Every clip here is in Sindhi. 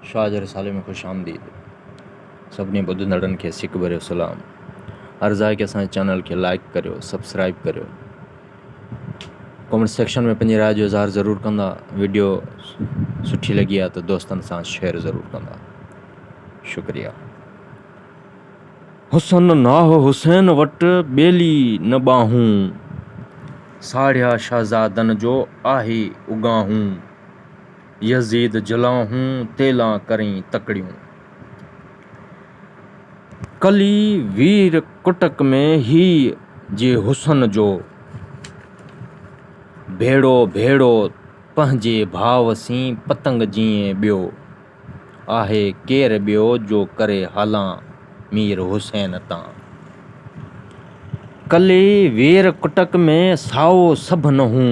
شاهه جي رسالي ۾ خوش آمديد سڀني ٻڌندڙن کي سڪ ڀريو سلام عرض آهي ڪي اسان جي چينل کي لائيڪ ڪريو سبسڪرائيب ڪريو ڪمينٽ سيڪشن ۾ پنهنجي راء جو اظهار ضرور ڪندا ويڊيو سٺي لڳي آهي ته دوستن سان شيئر ضرور ڪندا شڪريا حسن ناهه حسين وٽ ٻيلي نه ٻانهون ساڙهيا شهزادن جو آهي اڳانهون يزيد جلانهون تيلان ڪرين تڪڙيون. ڪلي وير ڪٽڪ ۾ هي جي حسن جو. ڀيڙو ڀيڙو پنهنجي ڀاء سين پتنگ جيئن ٻيو. آهي ڪير ٻيو جو ڪري هالان مير حسين تان. ڪلي وير ڪٽڪ ۾ سائو سڀ نه هون.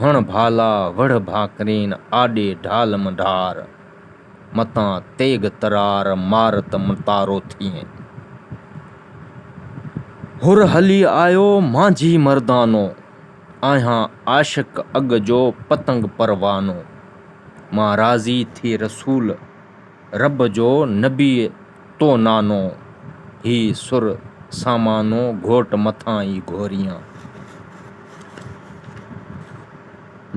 هڻ ڀالا وڙهه ڀاڪرين، آڏي ڍال منڍار، متان تيغ ترار، مار ته متارو ٿئين. هر هلي آيو مانجهي مردانو، آهيان عاشق اڳ جو پتنگ پروانو، مان راضي ٿي رسول. رب جو نبيء تو نانو، هي سر سامانو گهوٽ مٿان ئي گهوريان.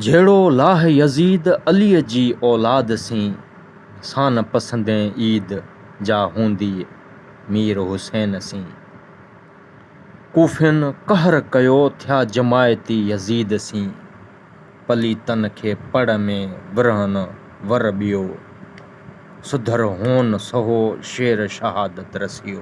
جهڙو لاهه يزيد عليء جي اولاد سين، سان پسندين عيد جا هونديء مير حسين سين. ڪوفين قهر ڪيو ٿيا جماعتي يزيد سين. پليتن کي پڙ ۾ ورهن ور ٻيو، سڌر هون سهو شير شهادت رسيو.